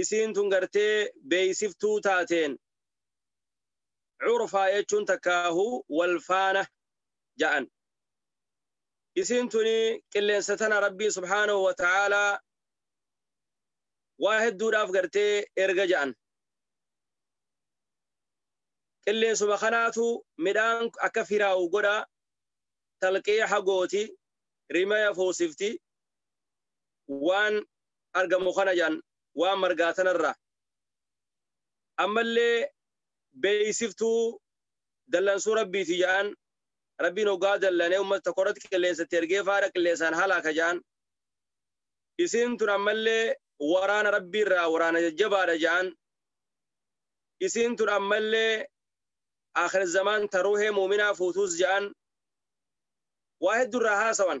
isiin tun gartee beeksiftuu taateen curfaa jechuun takkaahu walfaana ja'an isiin tuni qilleensa tana rabbiin subhaanahu wa ta'aalaa waa hedduudhaaf gartee erga ja'an qilleensuma kanaatu midhaan akka firaa'u godha talqiixa gooti rimaya fuusifti waan argamu kana jedhan waan margaa tanarraa ammallee beeksiftuu dallansuu rabbiiti jedhan rabbiin hoggaa dallanee uummata tokko irratti qilleensatti ergee faara qilleensaan halaaka jedhan isiin tun ammallee waraana rabbiirraa waraana jajjabaadha jedhan isiin tun ammallee akhir zamaan taruuhee muuminaa fuutuus jedhan waa hedduurraa haasawan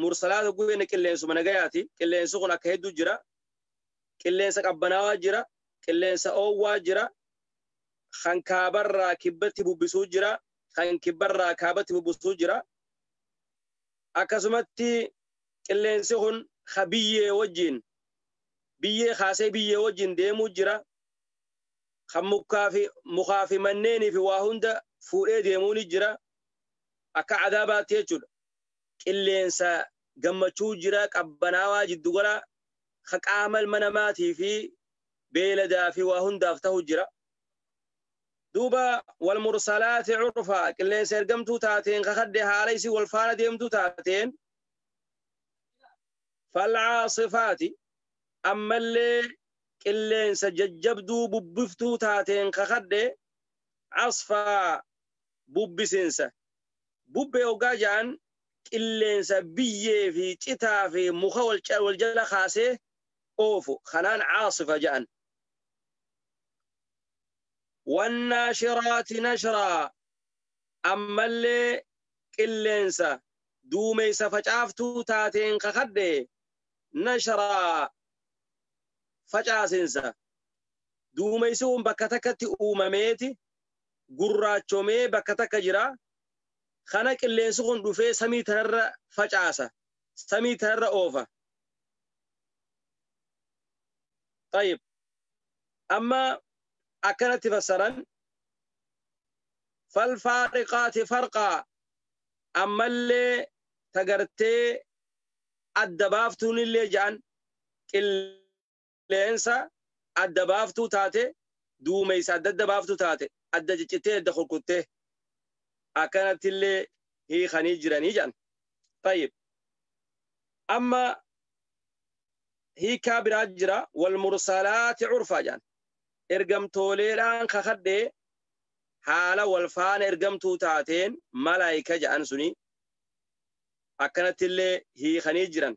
Mursalaat hogguu jenne qilleensuma nagayaati. Qilleensi kun akka hedduu jira. Qilleensa qabbanaawaa jira. Qilleensa oowwaa jira. Kan kaabarraa kibbatti bubbisuu jira. Kan kibbarraa kaabatti bubbisuu jira. Akkasumatti qilleensi kun ka biyyee wajjin biyyee kaasee biyyee wajjin deemuu jira. Kan mukaa fi mukaa fi manneenii fi waa hunda fuudhee deemuu ni jira. Akka adaabaatti jechuudha. qilleensa gammachuu jira qabbanaawaa jiddugala ka qaama ilma namaatii fi beeladaa fi waa hundaaf tahu jira. Duuba wal mursalaati curfaa qilleensa ergamtuu taateen kakadde haala isii wal faana deemtuu taateen falcaasifaati ammallee qilleensa jajjabduu bubbiftuu taateen kakadde casfaa bubbisinsa Bubbee oggaa ja'an qilleensa biyyee fi citaa fi muka wal jala kaasee oofu kanaan caasifa ja'an. Wannaashiraati nashraa ammallee qilleensa duumeysa facaaftuu taateen kakadhe nashraa facaasinsa duumeysi kun bakka takkatti uumameeti gurraachomee bakka takka jira. Kana qilleensi kun dhufee samii tanarra facaasa. Samii tanarra oofa. Tayyib. Amma akkanatti fassaran falfaariqaati farqaa ammallee tagartee adda baaftuunillee ja'an qilleensi qilleensa adda baaftuu taate duumeysa adda adda baaftu taate adda ciccittee adda kurkuttee akkanatti illee hiikanii jiranii jedhan. Tayyib. Amma hiikaa biraa jira wal mursalaati curfaa jedhan. Ergamtooleedhaan kakadhee haala wal faana ergamtuu taateen malaayika jedhan suni akkanatti illee hiikanii jiran.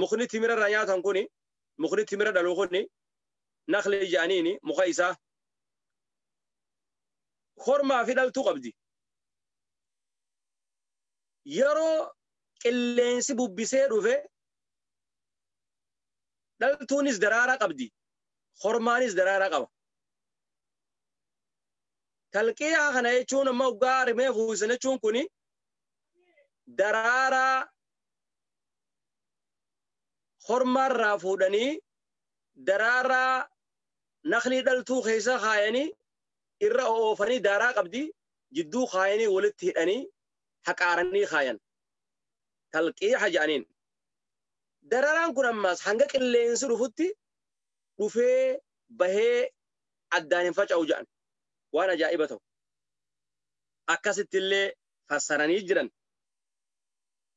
mukni timira irraa nyaatan kuni mukni timira dhalu kuni nakli jaaniini muka isaa kormaa fi dhaltuu qabdi yeroo qilleensi bubbisee dhufe dhaltuunis daraaraa qabdi kormaanis daraaraa qaba talqiyaa kana jechuun amma waggaa rimee fuusan jechuun kuni daraaraa hormaarraa fuudhanii daraaraa naklii dhaltuu keessa kaayanii irra oofanii daaraa qabdi jidduu kaayanii walitti hidhanii haqaaranii kaayan talqiixa jedhaniin dararaan kun ammaas hanga qilleensi dhufutti dhufee bahee addaan hin faca'u jedhan waan ajaa'iba ta'u akkasitti illee fassaranii jiran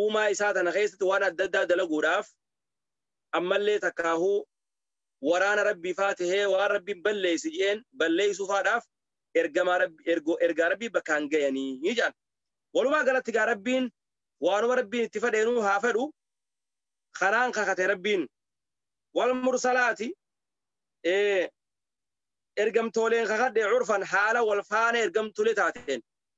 uumaa isaa tana keessatti waan adda addaa dalaguudhaaf ammallee takkaahuu waraana rabbii faa tahee waan rabbiin balleessi je'een balleessuu faadhaaf ergamaa rabbi ergo ergaa rabbii bakkaan gayanii ni jedhan walumaa galatti gaa rabbiin waanuma rabbiin itti fedheenuu haa fedhu kanaan kakate rabbiin wal mursalaati ee ergamtooleen kakadhe curfan haala wal faana ergamtulee taateen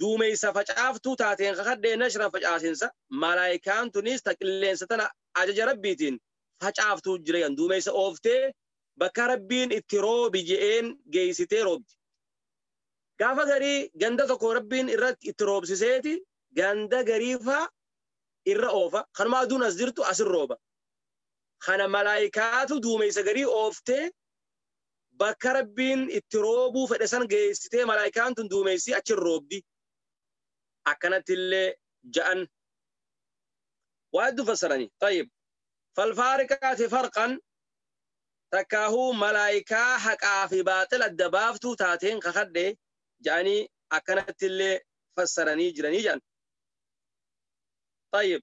duumeysa facaaftuu taateen kakadhee nashra facaasinsa malaayikaan tuniis ta qilleensa tana ajaja rabbiitiin facaaftuu jireyan duumeysa ooftee bakka rabbiin itti roobi je'een geeysitee roobdi gaafa garii ganda tokko rabbiin irratti itti roobsiseeti ganda gariifaa irra oofa kanuma aduun as jirtu asin rooba kana malaayikaatu duumeysa garii ooftee bakka rabbiin itti roobuu fedhe san geessitee malaayikaan tun duumeessii achi hin roobdi akkanatti illee ja'an waa hedduu fassaranii tayyib falfaariqaati farqan takkaahuu malaayikaa haqaa fi baaxil adda baaftuu taateen kakadhe ja'anii akkanatti illee fassaranii jiranii ja'an tayyib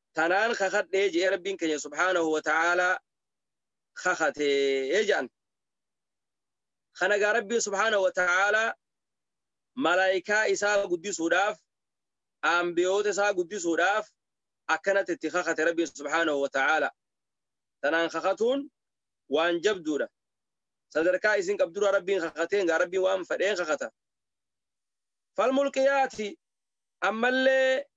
tanaan kakadhee je'e rabbiin keenya subhaanahu wa ta'aalaa kakatee jedhan kana gaa rabbiin subhaanahu wa ta'aalaa malaayikaa isaa guddisuudhaaf aanbiyoota isaa guddisuudhaaf akkanatti itti kakate rabbiin subhaanahu wa ta'aalaa tanaan kakatuun waan jabduudha sadarkaa isin qabdura rabbiin kakateen gaa rabbiin waan fedheen kakata falmulqiyaati ammallee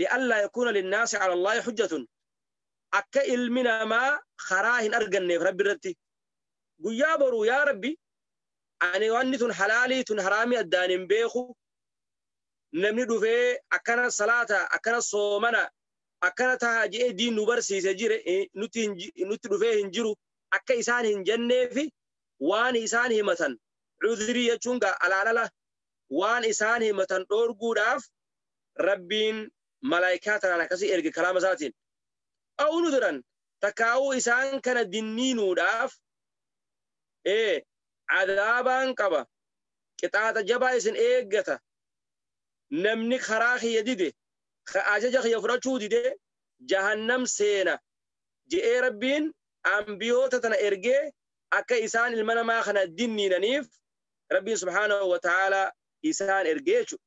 li'allaa yakuuna linnaasi calallaahi hujjatun akka ilmi namaa karaa hin arganneef rabbi irratti guyyaa boruu yaa rabbi ani wanni tun halaalii tun haraamii addaan hin beeku namni dhufee akkana salaata akkana soomana akkana taha je'ee diin nu barsiise jire nutti hin ji- nutti dhufee hin jiru akka isaan hin jenneefi waan isaan himatan cudrii jechuun gaa alaalala waan isaan himatan dhoorguudhaaf rabbiin malaa'ikaa tanaan akkasii erge kalaama isaatiin au nudiran takkaa'uu isaan kana dinniinuudhaaf ee cadaabaan qaba qixaaxa jabaa isin eeggata namni karaa kiyya dide ka ajaja kiyya fudhachuu dide jahannam seena je'ee rabbiin ambiyoota tana ergee akka isaan ilma namaa kana dinniinaniif rabbiin subhaanahu wa ta'aalaa isaan ergee jechuudha.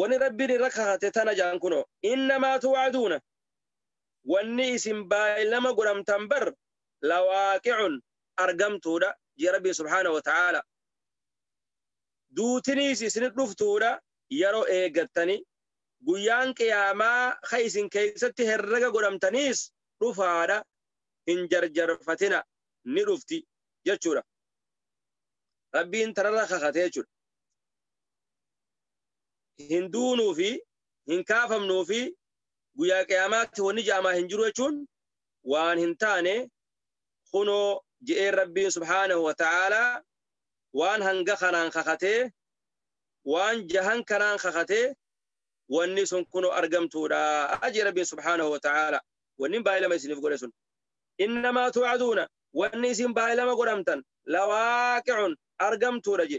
wani rabbiin irra kakate tana jaan kuno innamaa tuwaaduuna wanni isin baay'ilama godhamtan bar lawaaqi'un argamtuudha jee rabbiin subhaana wa ta'aala duutiniis isin dhuftuudha yeroo eegattani guyyaan qiyaamaa ka isin keessatti herrega godhamtaniis dhufaadha hin jarjarfatina ni dhufti jechuudha rabbiin tanarra kakate jechuudha hin duunuu fi hin kaafamnuu fi guyyaa qiyaamaatti wanni ja'amaa hin jiru jechuun waan hin taane kunoo je'een rabbiin subhaanahu wa ta'aalaa waan hanga kanaan kakatee waan jahan kanaan kakatee wanni sun kunoo argamtuudha ajee rabbiin subhaanahu wa ta'aalaa wanni baay'ilama isiniif godhe sun innamaa tu'aduuna wanni isin baay'ilama godhamtan lawaaqi'un argamtuudha je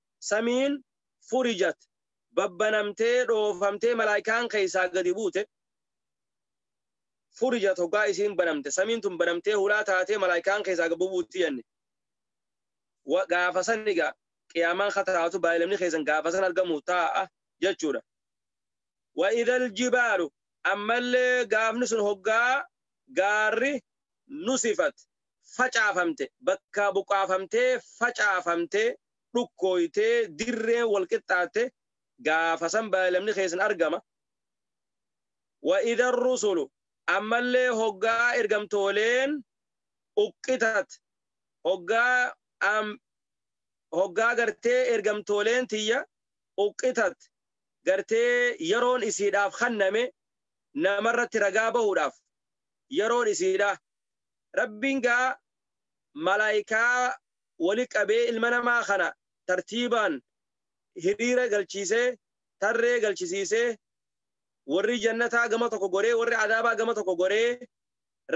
samiin furijat babbanamtee dhoofamtee malaa'ikaan keessaa gadi buute furijat hoggaa isiin banamte samiin tun banamtee hulaa taatee malaa'ikaan keessaa gadi buuti jenne gaafa san egaa qiyaamaan kataatu baay'ilamni keessan gaafa san argamu taa'a jechuudha wa idal jibaalu ammallee gaafni sun hoggaa gaarri nusifat facaafamte bakkaa buqaafamtee facaafamtee dhukkooytee dirreen wal qixxaatte gaafa san baayilamni keessan argama. Wa idha rusulu ammallee hoggaa ergamtooleen uqqitat hoggaa am hoggaa gartee ergamtooleen tiyya uqqitat gartee yeroon isiidhaaf kenname namarratti ragaa bahuudhaaf yeroon isiidha. Rabbiin gaa malaayikaa wali qabee ilma namaa kana tartiibaan hiriira galchiisee, tarree galchisiisee, warri jannataa gama tokko goree, warri azaabaa gama tokko goree,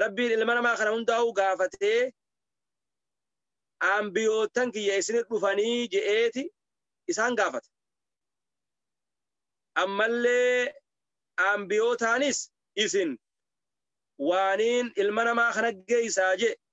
Rabbiin ilma namaa kana hundaa'uu gaafatee, Anbiyoottan kiyya isinit dhufanii je'eeti isaan gaafata. Ammallee anbiyootaanis isin waaniin ilma namaa kana geeysaa je'e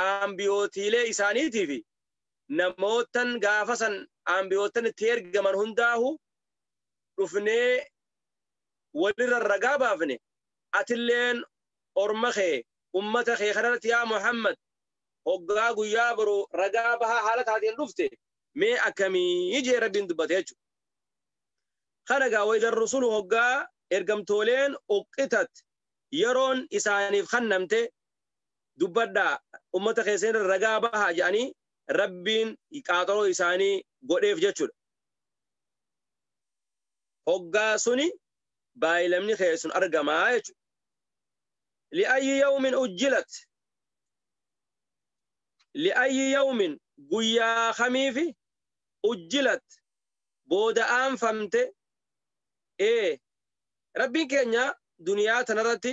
aambiyootiilee isaaniitii fi namoottan gaafa san aambiyoottan itti ergaman hundaahu dhufnee walirra ragaa baafne atilleen orma kee ummata kee kanarratti yaa Muhammad hoggaa guyyaa boru ragaa bahaa haala taateen dhufte mee akkamii jee rabbiin dubbate jechuudha. Kana gaa wayda rusulu hoggaa ergamtooleen uqqitat yeroon isaaniif kannamte dubbadhaa ummata keessan irra ragaa bahaa jedhanii rabbiin qaaxaroo isaanii godheef jechuudha. Hoggaa suni baayilamni keessan argamaa jechuudha. Li'ayyi yawmin ujjilat li'ayyi yawmin guyyaa kamiifi ujjilat booda aanfamte ee rabbiin keenya duniyaa tanarratti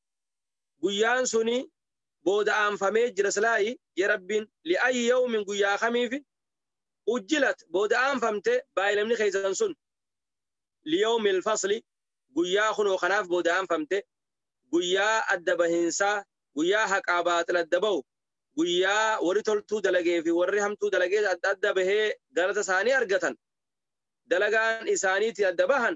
guyyaan suni booda aanfamee jira silaayi jee rabbiin li'ayi yawmin guyyaa kamiifi ujjilat booda aanfamte baay'inamni keessan sun liyawmil fasli guyyaa kunoo kanaaf booda aanfamte guyyaa adda bahinsaa guyyaa haqaa baaxil adda bahu guyyaa warri toltuu dalagee fi warri hamtuu dalagee adda adda bahee galata isaanii argatan dalagaan isaaniitiin adda bahan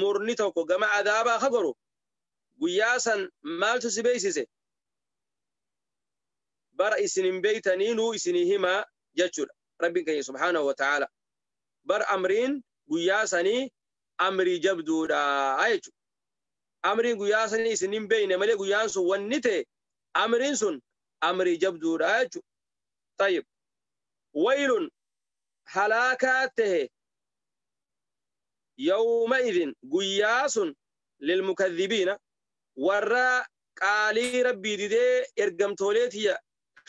murni tokko gama adaabaa ka goru guyyaa san maaltu si beeksise bara isin hin beeytanii nuu isinii himaa jechuudha rabbiin keenya subhaanahu wa ta'aala bar amriin guyyaa sanii amrii jabduudha jechuudha amriin guyyaa sanii isin hin beeyne malee guyyaan sun wanni ta'e amriin sun amrii jabduudha jechuudha tayyib waylun halaakaa ta'e yawma'idhin guyyaa sun lilmukadhibiina warra qaalii rabbii didee ergamtoolee tiyya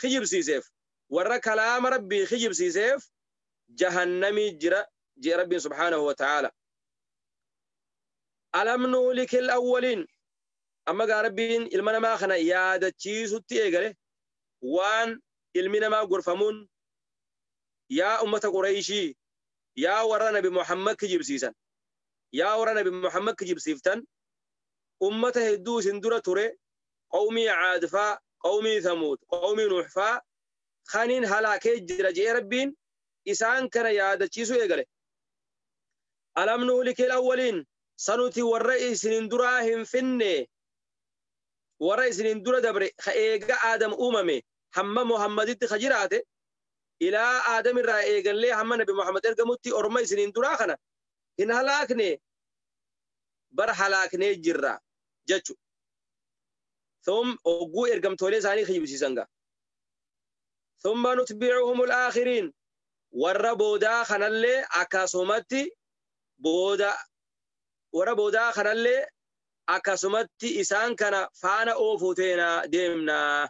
kijibsiiseef warra kalaama rabbii kijibsiiseef jahannamii jira jee rabbiin subhaanahu wa ta'aala alam nuulikil awwaliin amma gaa rabbiin ilma namaa kana yaadachiisutti eegale waan ilmi namaa gorfamuun yaa ummata qureeyshii Yaa warra Nabi Muhammad kijibsiisan! Yaa warra Nabi Muhammad kijibsiiftan! Ummata hedduu isin dura ture, qawmii Aad faa, qawmii Thamuud, qawmii Nuuh faa, kaniin halaakee jira je'ee Rabbiin isaan kana yaadachiisuu eegale. Alam nuhlikil awwaliin? Sa nuti warra isinin duraa hin finnee? Warra isinin dura dabre ka eega Aadam uumame hamma Muhammaditti ka jiraate ilaa Aadam irraa eegallee hamma Nabi Muhammad ergamutti orma isiniin duraa kana hin halaakne bar halaaknee jirra jechu. Thum hogguu ergamtoolee isaanii kijibsiisan gaa. Thumma nutbi'uhumul aakhiriin warra boodaa kanallee akkasumatti booda warra boodaa kanallee akkasumatti isaan kana faana oofuu teenaa deemnaa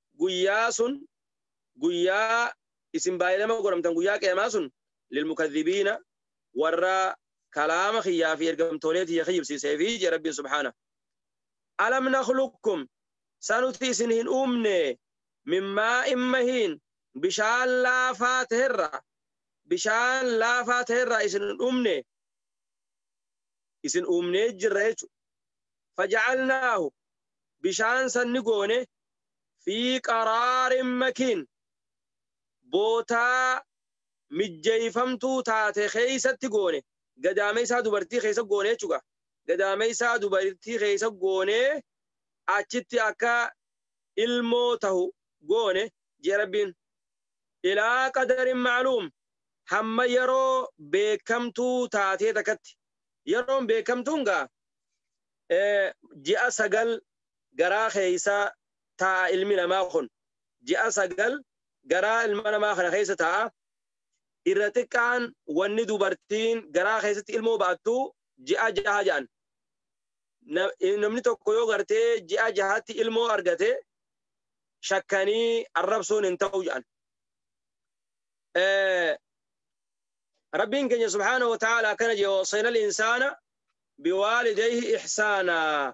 guyyaa sun guyyaa isin baay'inama godhamtan guyyaa qiyamaa sun lilmukadhibiina warra kalaama kiyyaa fi ergamtoolee tiyya kijibsiisee fi jee rabbiin subhaana alam nakhluqkum sanuti isin hin uumne mimmaa immahiin bishaan laafaa ta'erra bishaan laafaa ta'erra isin hin uumne isin uumnee jirra jechuudha faja'alnaahu bishaan sanni goone fi qaraarin makiin bootaa mijjeeyfamtuu taate keeysatti goone gadaameeysaa dubartii keeysa goone jechuudha gadaameeysaa dubartii keeysa goone achitti akka ilmoo tahu goone jee rabbiin ilaa qadarin macluum hamma yeroo beekamtuu taatee takkatti yeroon beekamtuun gaa ji'a sagal garaa keessa taa'a ilmi namaa kun ji'a sagal garaa ilma namaa kana keessa taa'a irra xiqqaan wanni dubartiin garaa keessatti ilmoo ba'attu ji'a jaha ja'an namni tokko yoo gartee ji'a jahatti ilmoo argate shakkanii arrabsuun hin ta'u ja'an rabbiin keenya subhaanahu wa ta'aala akkana jee wasayna al insaana biwaalidayhi ihsaanaa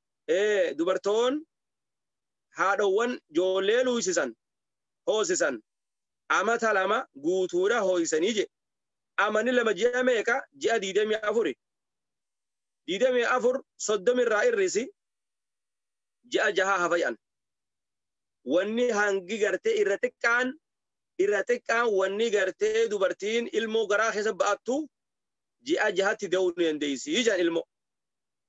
dubartoon haadhowwan joollee luuysisan hoosisan amata lama guutuudha hoo'isanii jedhe. Amanni lama ji'a meeqa ji'a diidamii afuri. Diidamii afur soddomi irraa irrisi ji'a jahaa hafa jedhan. Wanni hangi gartee irra xiqqaan irra xiqqaan wanni gartee dubartiin ilmoo garaa keessa ba'attu ji'a jahatti da'uu ni dandeessi jedhan ilmoo.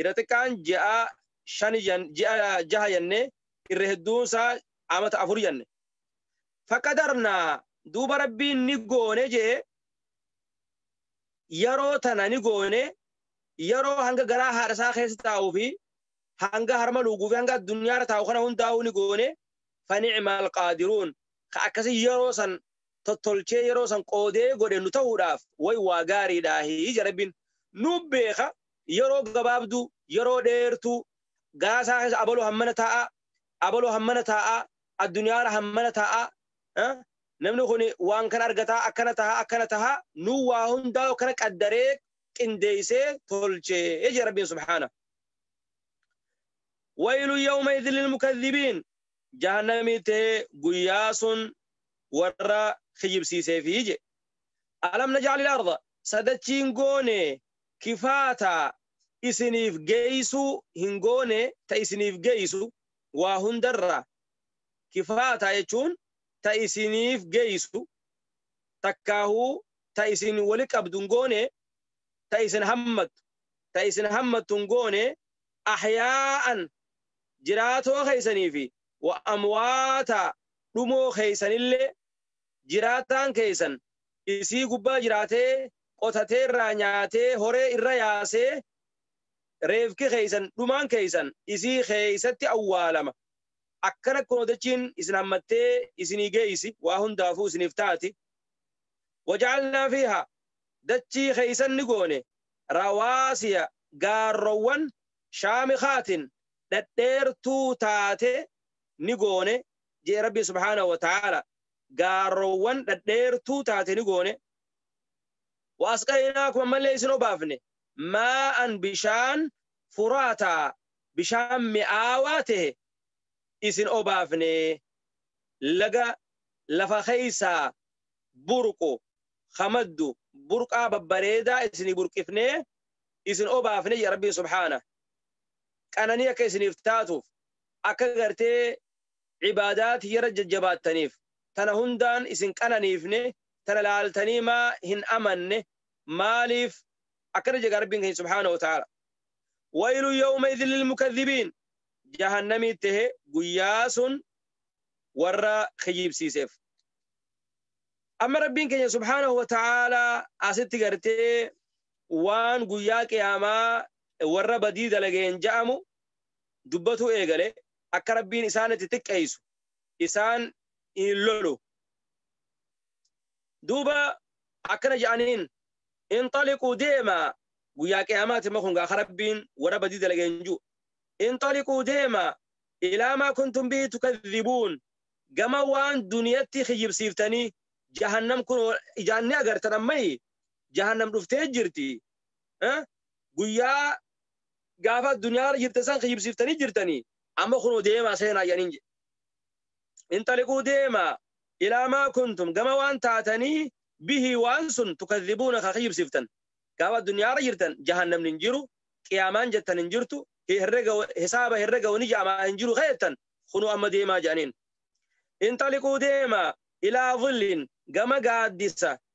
Irra xiqqaan ji'a shani jan- ji'a jaha jannee irra hedduun isaa amata afur janne. Faqadarnaa duuba rabbiin ni goone jee yeroo tana ni goone yeroo hanga garaa haadha isaa keessa taa'uu fi hanga harma luuguu fi hanga addunyaarra taa'u kana hundaa'uu ni goone fani'mal qaadiruun ka akkasii yeroo san tottolchee yeroo san qoodee godhe nu ta'uudhaaf way waa gaariidhaahi ija rabbiin nu beeka yeroo gabaabduu yeroo dheertuu gaasaa keessa abaloo hammana taa'aa abaloo hammana taa'aa addunyaara hammana taa'aa eh, namni kun waan kana argataa akkana tahaa akkana tahaa nu waa hundaa akkana qaddaree qindeeysee tolchee ija rabbiin subhaana waylu yawma idhin lilmukadhibiin jahannamii tee guyyaa sun warra kijibsiiseefii je alam najaalil arda sadachiin goone kifaata isiniif geeysuu hin goone ta isiniif geeysu waa hundarra kifaata jechuun ta isiniif geeysu takkaahuu ta isin wali qabdu hin goone ta isin hammattu ta isin hammattu hin goone ahyaa'an jiraatoo keessanii fi wa amwaata dhumoo keessanillee, jiraataan keessan isii gubbaa jiraatee, qotatee irraa nyaatee, horee irra yaasee, reefki keessan, dhumaan keessan isii keessatti awwaalama. Akkana kunoo dachiin isin hammattee isinii geessi, waa hundaafuu isiniif taati. Waja'alnaa fiihaa, dachii keessan ni goone, rawaasiya, gaarrowwan, shaamikaatin dhadheertuu taate ni goone jee rabbiin subhaanahu wa ta'aala gaarowwan dhadheertuu taate ni goone wa asqaynaakum ammallee isin obaafne maa'an bishaan furaataa bishaan mi'aawaa ta'e isin obaafne laga lafa keeysaa burqu hamaddu burqaa babbareedaa isinii burqifnee isin obaafne jedha rabbiin subhaana qananii akka isiniif taatuuf akka gartee ibaadaa tiyyarra jajjabaattaniif tana hundaan isin qananiifne tana laaltanii maa hin amanne maaliif akkana jedha rabbiin keenya subhaana wataala waylu yawma idhin lilmukadhibiin jahannamii tahe guyyaa sun warra kijibsiiseef amma rabbiin keenya subhaanahu wa ta'aalaa asitti gartee waan guyyaa qiyaamaa warra badii dalageen ja'amu dubbatuu eegale akka rabbiin isaan itti xiqqeeysu isaan hin lolu duuba akkana ja'aniin inxaliquu deemaa guyyaa qiyaamaati ma kun gaa ka rabbiin warra badii dalageen ju'u inxaliquu deemaa ilaa maa kuntum bihi tukadhibuun gama waan duniyatti kijibsiiftanii jahannam kun ijaan ni agartan ammayi jahannam dhuftee jirti Eh? guyyaa gaafa addunyaa irra jirte san kijibsiiftanii jirtanii amma kunoo deemaa seenaa jedhaniin jedhe inxaliquu deemaa ilaa maa kuntum gama waan taatanii bihii waan sun tukadhibuuna ka kijibsiiftan gaafa addunyaa irra jirtan jahannamni hin jiru qiyaamaan jettan hin jirtu herrega hisaaba herrega wani jaamaa hin jiru keettan kunoo amma deemaa jedhaniin inxaliquu deemaa ilaa dhilliin gama gaaddisa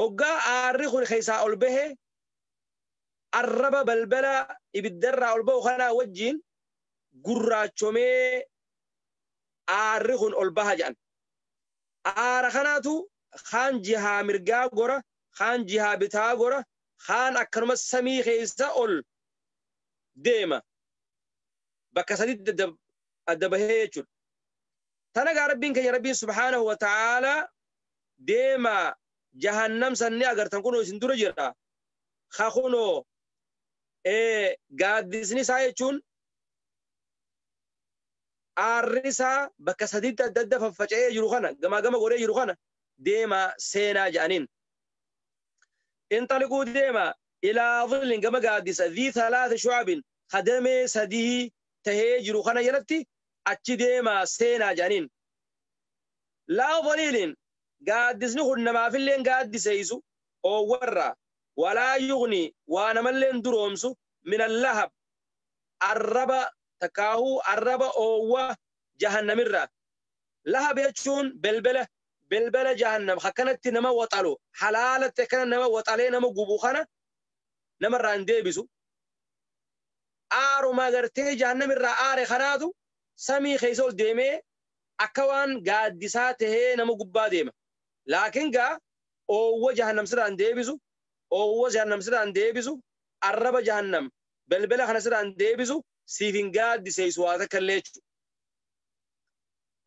Hoggaa aarri kun keessaa ol bahe, arraba balbala ibiddarraa ol bahu kanaa wajjiin gurraachomee aarri kun ol baha jedhan. Aara kanaatu kaan jihaa mirgaa gora, kaan jihaa bitaa gora, kaan akkanuma samii keessa ol deema. Bakka sadiitti adda, adda bahee jechuudha. Tana egaa Rabbiin keenya Rabbiin subhaanahu wa ta'aalaa deemaa jahannam san ni agartan kunoo isin dura jira ka kunoo gaaddisni isaa jechuun aarri isaa bakka sadiitti adda adda faffaca'ee jiru kana gamaa gama godhee jiru kana deemaa seenaa jedhaniin. Inxaliquu deemaa ilaa dhillin gama gaaddisa dhii talaata shu'abin kadamee sadii tahee jiru kana jalatti achi deemaa seenaa jedhaniin. Law Voliilin gaaddisni kun namaafilleen gaaddiseessu, oowwarraa, walaa yughnii waa namalleen duroomsu, minal lahab arraba takkaahuu arraba oowwa jahannamirraa. Lahab jechuun belbela, belbela jahannam akkanatti nama waxalu, halaalatti akkana nama waxalee nama gubu kana namarraa hin deebisu. Aaruma gartee jahannamirraa aare kanaatu samii keessa ol deemee akka waan gaaddisaa tahee nama gubbaa deema. Laakiin gaa oowwa jahannam sirraa hin deebisu, oowwa jahannam sirraa hin deebisu, arraba jahannam, belbela kana sirraa hin deebisu, siif hin gaaddiseeysu waa takka illee jechu.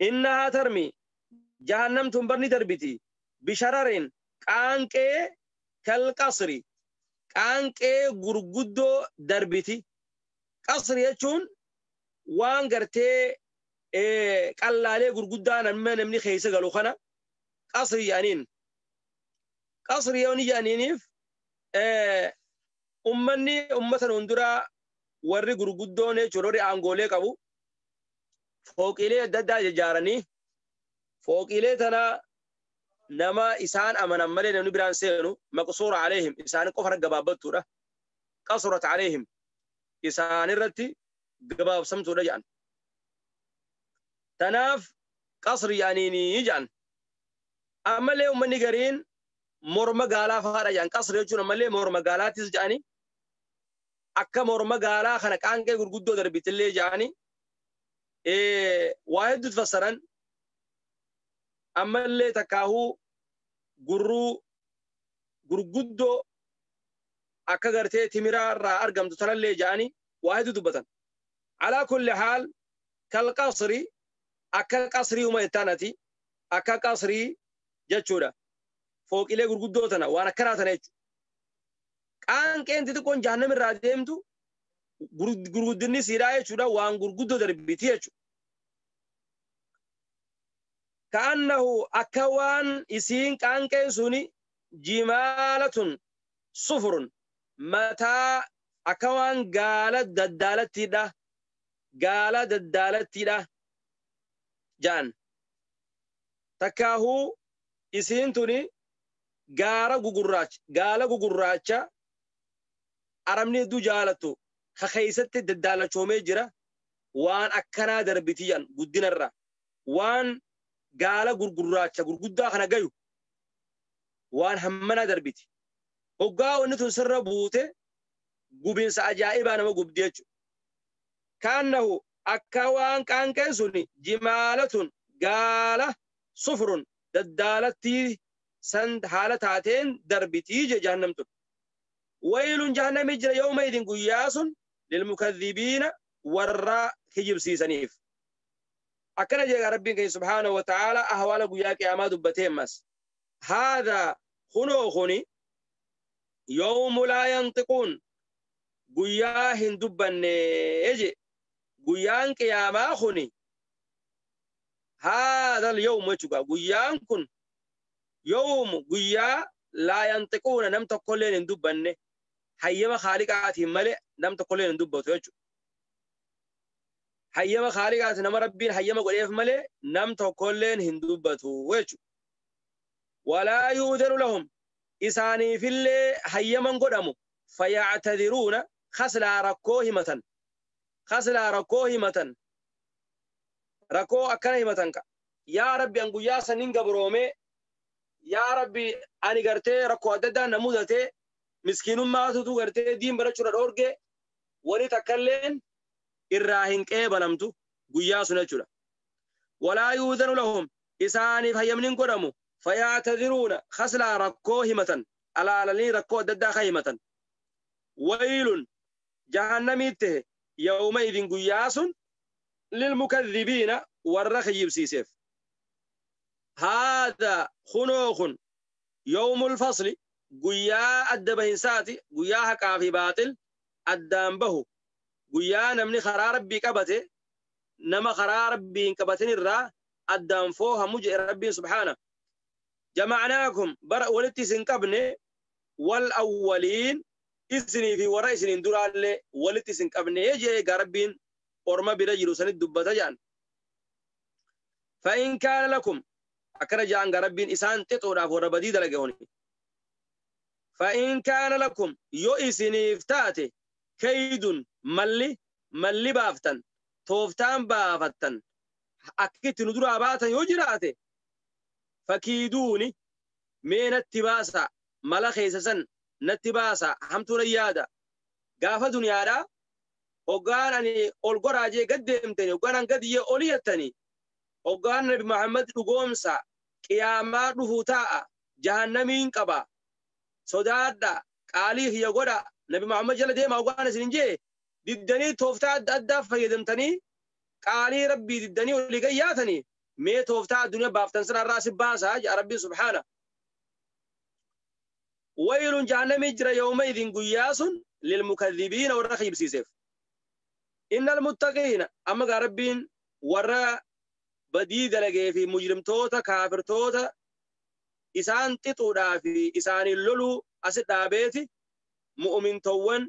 Innahaa tarmi, jahannam tun bar ni darbiti, bishararin, qaanqee, kalqasri, qaanqee gurguddoo darbiti. Qasri jechuun waan gartee qallaalee gurguddaa namni namni keessa galu kana qasri jedhaniin. Qasri yoo ni jedhaniiniif ummanni ummata nuun duraa warri gurguddoon jechuudha warri aangoolee qabu fooqiilee adda addaa ijaaranii fooqiilee tana nama isaan amanan malee namni biraan seenu maqsuura aleehim isaan qofa irra gabaabbattuudha. Qasurat aleehim isaan irratti gabaabsamtuudha jedhan. Tanaaf qasri yaaniini ja'an. Ammallee ummanni gariin morma gaalaa faadha ja'an. Qasri jechuun ammallee morma gaalaattis ja'ani. Akka morma gaalaa kana qaanqee gurguddoo darbitillee ja'ani. Waa hedduutu fassaran. Ammallee takkaahuu gurruu gurguddoo akka gartee timiraa irraa argamtu tanallee ja'ani waa hedduu dubbatan. Alaa kulli haal kal qasri akka qasriiuma jettaan ati akka qasrii jechuudha. Fooqilee gurguddoo tana waan akkanaa tana jechuudha. Qaanqeen xixiqqoon jahannam irraa deemtu gur- gurguddinni siidhaa jechuudha waan gurguddoo darbiti jechuudha. Ka'annahu akka waan isiin qaanqeen suni jimaalatun sufurun mataa akka waan gaala daddaalattiidha gaala daddaalattiidha ja'an takkaahuu isiin tuni gaara gugurraacha gaala gugurraacha arabni hedduu jaalattu ka keessatti daddaalachoomee jira waan akkanaa darbitii jedhan guddinarra waan gaala gurgurraacha gurguddaa kana gayu waan hammanaa darbiti Hoggaa wanni tun sirra buute gubinsa ajaa'ibaa nama gubdi jechuudha. Kaannahu akka waan qaanqeen sun jimaalatun gaala sufrun daddaalattii san haala taateen darbitii je jahannam tun. Waylun jahannami jira yooma idin guyyaa sun lilmukadhibiina warra kijibsiisaniif. Akkana jeegaa Rabbiin keenya subhaanahu wa ta'aala ahwaala guyyaa qiyaamaa dubbatee ammas. haadha kunoo kuni yoomu laa yanxiquun guyyaa hin dubbanne je guyyaan qiyaamaa kuni haadha yoomu jechuudha guyyaan kun yoomu guyyaa laa yanxiquuna nam tokkolleen hin dubbanne hayyama kaaliqaatiin malee nam tokkolleen hin dubbatu jechuudha. Hayyama kaaliqaati nama rabbiin hayyama godheef malee nam tokkolleen hin dubbatu jechuudha. walaa yu'udanu lahum isaaniifillee hayyaman godhamu fayactadiruuna kaslaa rakkoo himatan kaslaa rakkoo himatan rakkoo akkana himatan ka yaa rabbi an guyyaa sanin gabroomee yaa rabbi ani gartee rakkoo adda addaa na mudatee miskiinummaatutu gartee diin barachuudha dhoorgee wani takkalleen irraa hin qeebalamtu guyyaa sun jechuudha walaa yu'udanu lahum isaaniif hayyamni hin godhamu fayaataziruuna khaslaa rakkoo himatan alaalalanii rakkoo adda addaa kan himatan waylun jahannamii tahe yawma idin guyyaa sun lilmukadhibiina warra kiyyibsiiseef haadha kunoo kun yawmul fasli guyyaa adda bahinsaati guyyaa haqaa fi baaxil addaan bahu guyyaa namni karaa rabbii qabate nama karaa rabbii hin qabatin irraa addaan foohamu jedhe rabbiin subhaana jama'anaakum bara walitti isin qabne wal awwaliin isinii fi warra isiniin duraallee walitti isin qabne jedhe egaa rabbiin orma bira jiru sanit dubbata jedhan fa'in kaana lakum akkana jedhan egaa rabbiin isaan xixuudhaaf warra badii dalage honi fa'in kaana lakum yoo isiniif taate keeydun malli malli baaftan tooftaan baafattan akka itti nu duraa baatan yoo jiraate fakiiduuni mee natti baasa mala keessa san natti baasa hamtuu na yaada gaafa duniyaadha hoggaan ani ol goraa jee gad deemtani hoggaan an gad jee oli yattani hoggaan nabi Muhammad dhugoomsa qiyaamaa dhufu taa'a jahannamiin qaba sodaadha qaalii kiyya godha nabi Muhammad jala deema hoggaan isin hin jee diddanii tooftaa adda addaa fayyadamtanii qaalii rabbii diddanii olii gad yaatanii mee tooftaa addunyaa baaftan sana irraa si baasaa jedha rabbiin subhaana waylun jahannamii jira yooma idin guyyaa sun lilmukadhibiina warra kiibsiiseef innal muttaqiina amma gaa rabbiin warra badii dalagee fi mujrimtoota kaafirtoota isaan xixuudhaa fi isaaniin loluu asi dhaabeeti mu'umintowwan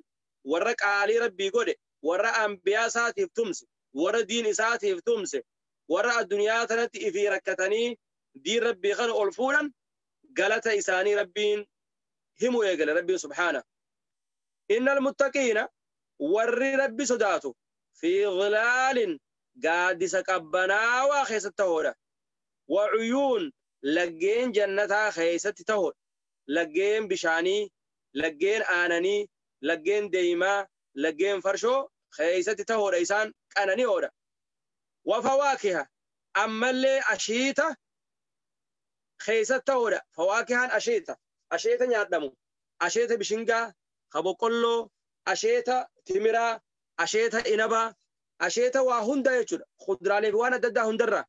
warra qaalii Rabbii godhe, warra Anbiyaa isaatiif tumse, warra diin isaatiif tumse, warra addunyaa tanatti ifii rakkatanii diin Rabbii kana ol fuudhan galata isaanii Rabbiin himu eegale Rabbiin subhaana. Innal muttaqiina warri Rabbi sodaatu fi dhilaalin gaaddisa qabbanaawaa keessatti tahoodha. Wa cuyuun laggeen jannataa keessatti tahoodha. Laggeen bishaanii, laggeen aananii, laggeen deeymaa, laggeen farshoo keeysatti tahoodha isaan qanani'oodha. Wa fawaakiha ammallee ashiita keeysatti tahoodha. Fawaakihaan ashiita, asheeta nyaadhamu, asheeta bishingaa, ka boqqolloo, asheeta timiraa, asheeta inabaa, asheeta waa hundaa jechuudha. Kudraalee fi waan adda addaa hundarraa.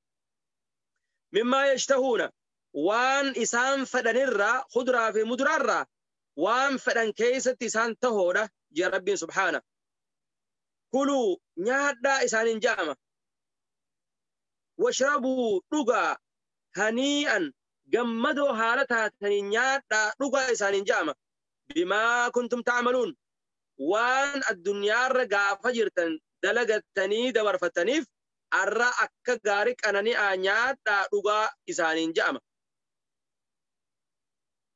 Mimmaa yashtahuuna waan isaan fedhanirraa kudraa fi mudraarraa waan fedhan keessatti isaan tahoodha jee rabbiin subhaana kuluu nyaadhaa isaanin ja'ama washrabuu dhugaa hanii'an gammadoo haala taatanii nyaadhaa dhugaa isaanin ja'ama bimaa kuntum ta'amaluun waan addunyaarra gaafa jirtan dalagattanii dabarfattaniif arra akka gaari qanani'aa nyaadhaa dhugaa isaanin ja'ama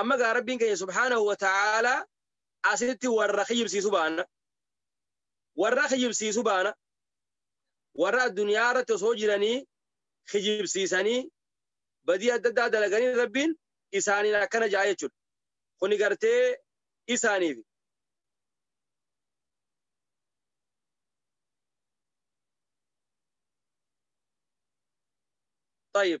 amma gaa rabbiin keenya subhaanahu wa ta'aalaa asitti warra kijibsiisu baana warra kijibsiisu baana warra addunyaa irratti osoo jiranii kijibsiisanii badii adda addaa dalaganii rabbiin isaaniin akkana ja'a jechuudha kuni gartee isaaniif طيب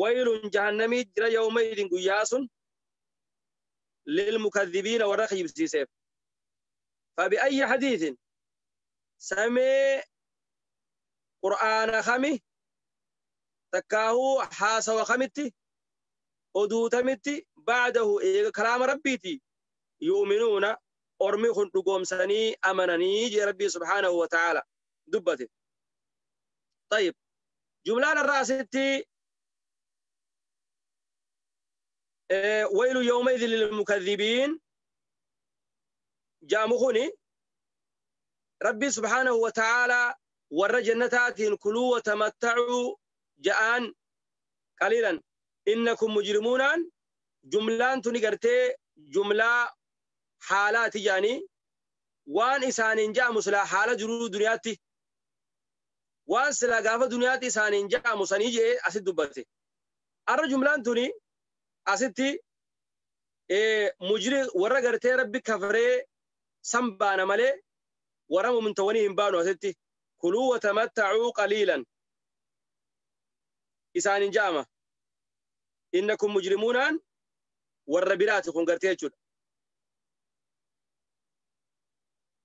waylun jahannamii jira yawma idin guyyaa sun lilmukadhibiina warra kijibsiiseef fabiayyi hadiisin samee qur'aana kami takkaahuu haasawa kamitti oduu tamitti ba'dahu eega kalaama rabbiiti yu'minuuna ormi kun dhugoomsanii amananii jee rabbii subhaanahu wa ta'aala dubbate طيب jumlaan irraa asitti waylu yooma idin lilmukadhibiin jaamu kuni rabbii subhaanahu wa ta'aalaa warra jannataatiin kuluu wa tamattacuu ja'aan qaliilan innakum mujrimuunaan jumlaan tuni gartee jumlaa haalaati ja'anii waan isaaniin ja'amu silaa haala jiruu duniyaatti waan silaa gaafa duniyaatti isaaniin ja'amu sanii je'e asitti dubbate. Arra jumlaan tuni asitti mujri warra gartee rabbi kafree san baana malee warra mumintawwanii hin baanu asitti kuluu watamattacuu qaliilan isaaniin ja'ama. Inna kun mujrimuunaan warra biraati kun gartee jechuudha.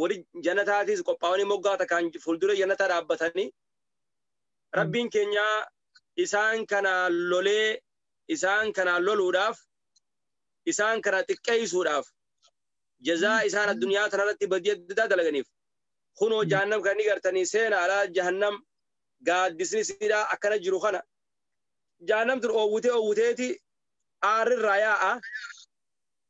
warri jannataatis qophaa'anii moggaa takkaan fuuldura jannataa dhaabbatanii rabbiin keenya isaan kanaan lolee isaan kanaan loluudhaaf isaan kana xiqqeessuudhaaf jazaa isaan addunyaa tanarratti badii adda addaa dalaganiif kunoo jahannam kan ni gartanii seena alaa jahannam gaaddisni siidhaa akkana jiru kana jahannam tun oowwitee oowwiteeti aarrirraa yaa'a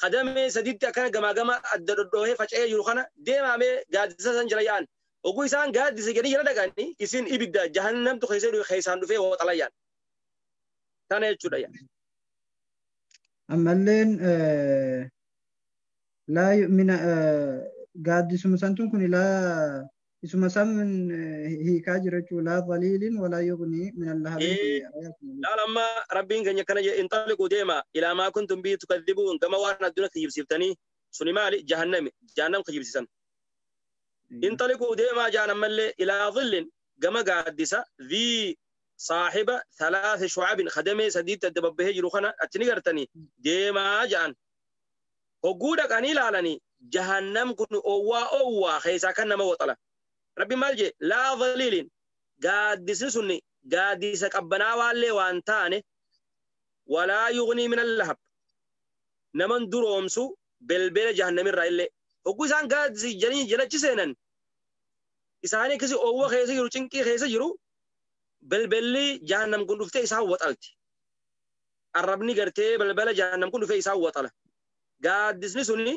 ka damee saditti akkana gamaa gama adda dhodhoohee faca'ee jiru kana deemaa mee gaaddisa san jala yaa'an. Oguu isaan gaaddisa jedhanii jala dhaqanii isin ibidda jahannamtu keessa dhufe keessaan dhufee waxala yaa'an. Tana jechuudha yaa. Ammalleen eh, laa yu'mina eh, gaaddisuma santuun kun laa isuma sammin hiikaa jirachuu laa dhaliilin walaa yugnii min allahabiin kun Ee, ayaatuma laal amma rabbiin keenya akkana jedhe inxaliquu deema ilaa maa kuntum bihi tukadibuun gama waan adduna kijibsiiftanii suni maali jahannami jahannam kijibsiisan inxaliquu deemaa jaan ammallee ilaa dhillin gama gaaddisa dhii saahiba thalaatha shucabin kadamee sadiitti adda babbahee jiru kana achi ni gartanii deemaa jaan hogguu dhaqanii laalanii jahannam kun owwaa owwaa keessaa kan nama waxalan rabbi maal jee laa dhaliiliin gaaddisni sunni gaaddisa qabbanaa waallee waan taane walaa yugnii min allahab naman duroomsu belbela jahannamirraa illee hogguu isaan gaaddisi janii jalachi seenan isaanii akkasi owwa keessa jiru cinqii keessa jiru belbelli jahannam kun dhuftee isaan waxalti arrabni gartee balbala jahannam kun dhufee isaan waxala gaaddisni suni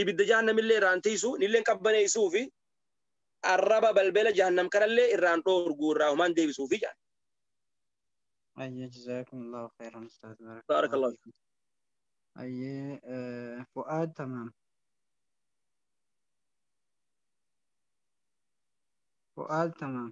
ibidda jahannamillee irraan tiisu nilleen qabbaneessuu fi arraba balbala jahannam kanallee irraan dhoorguu irraa humaan deebisuu fi jedhan Ayyee jazaakumullahu khairan ustaaz barakallahu Barakallahu fiikum. Ayyee eh, fu'aad tamaam. Fu'aad tamaam.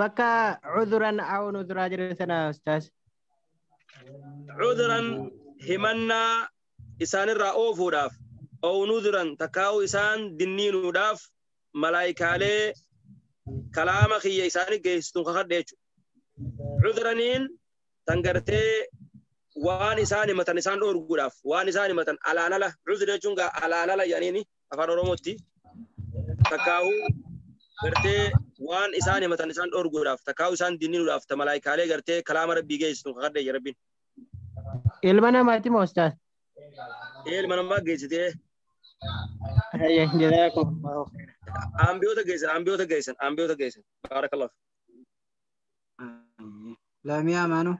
Bakka cuduran aw nuduraa jedhu sana ustaas. Cuduran himannaa isaanirraa oofuudhaaf aw nuduran takkaa'u isaan dinniinuudhaaf malaayikaalee kalaama kiyya isaanii geessituun kakadhe jechuudha. Cuduraniin tan gartee waan isaan himatan isaan dhoorguudhaaf waan isaan himatan alaan ala cudura jechuun gaa alaan ala jedhaniini afaan oromootti takkaahuu gartee waan isaan himatan isaan dhorguudhaaf takkaahuu isaan dinninuudhaaf ta malaayikaalee gartee kalaama rabbii geessitu kakadhe jedhe rabbiin Ilma namaati moo ustaaz? ilma namaa geessitee Hayya jazaakum. ambiyoota geessan ambiyoota geessan ambiyoota geessan baarakallah Laamiyaa maanu.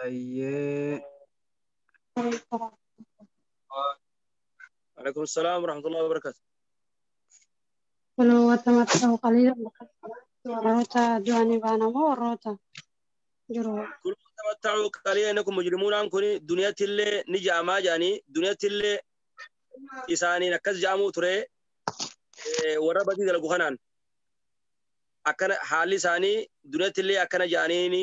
Ayyee. Alaikum salaam wa rahmatullahi wa barakatuh. Kunoo wanta maxxanuu qaliila warroota du'anii baana moo warroota jiru Kun tamatta'u qalii inni kun mujrimuunaan kun duniyatti illee ni ja'amaa ja'anii duniyatti illee isaaniin akkas ja'amuu ture eh, warra badii dalagu kanaan akkana haalli isaanii duniyatti illee akkana ja'aniini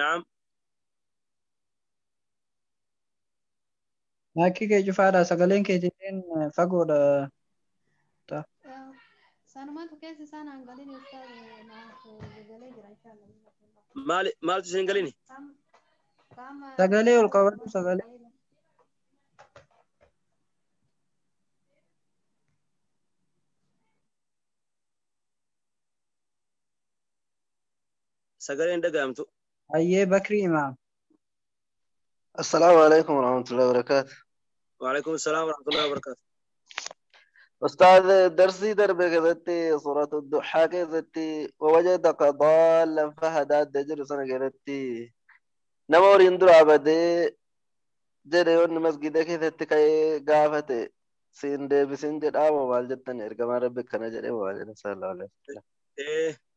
Naam. Maakkii kee cufaadha sagaleen kee jedheen fagoodha. Sanumatu keessa isaan hangalin ibsaa naaf galee jira inshallah. Maali maaltu isin hin galini? Qaama Sagalee ol qabadhu sagalee. sagaleen dhaga'amtu. Hayyee Bakri Imaam. Assalaamu alaikum warahmatullahi wabarakaatu. Waalaikum salaam warahmatullahi wabarakaatu. Ustaaz darsii darbe keessatti suuratu duhaa keessatti wawajadaka daallan fahadaa adda jedhu sana keessatti nama horiin duraa badee jedhe yoonni masgida keessatti ka'ee gaafate siin deebisin jedhaa moo maal jettan ergamaan rabbi akkana jedhe moo maal jedhan sallallahu alaihi wasallam. Eh,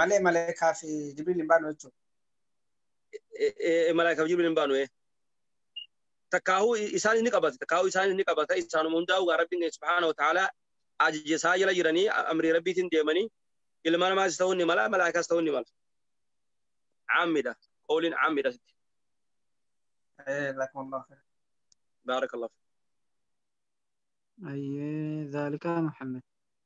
malee malaayikaa fi jibriil hin baanu jechuudha. Malaayikaaf jibriil hin baanu. Takkaahuu isaanis ni qabata. Takkaahuu isaanis ni qabata. Isaanuma hundaa'u gaa rabbiin keenya subhaana wa ta'ala ajaja isaa jala jiranii amrii rabbiitiin deemanii ilma namaas ta'uu ni mala malaayikaas ta'uu ni mala. Caammiidha. Qooliin caammiidha. Jazakumullahu khairan. Baarakallahu. Ayyee zaalika Muhammad.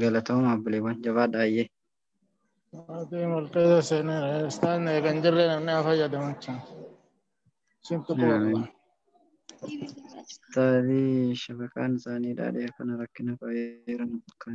Galatooma abbileewwan jabaadha ayyee. Maatii murteessa seenaa isaan eegan jirre namni haa fayyadamu jechuun. Isintu qoolla. Ustaazii shabakaan isaanii dhaadhee akkana rakkina fa'aa jiran kan.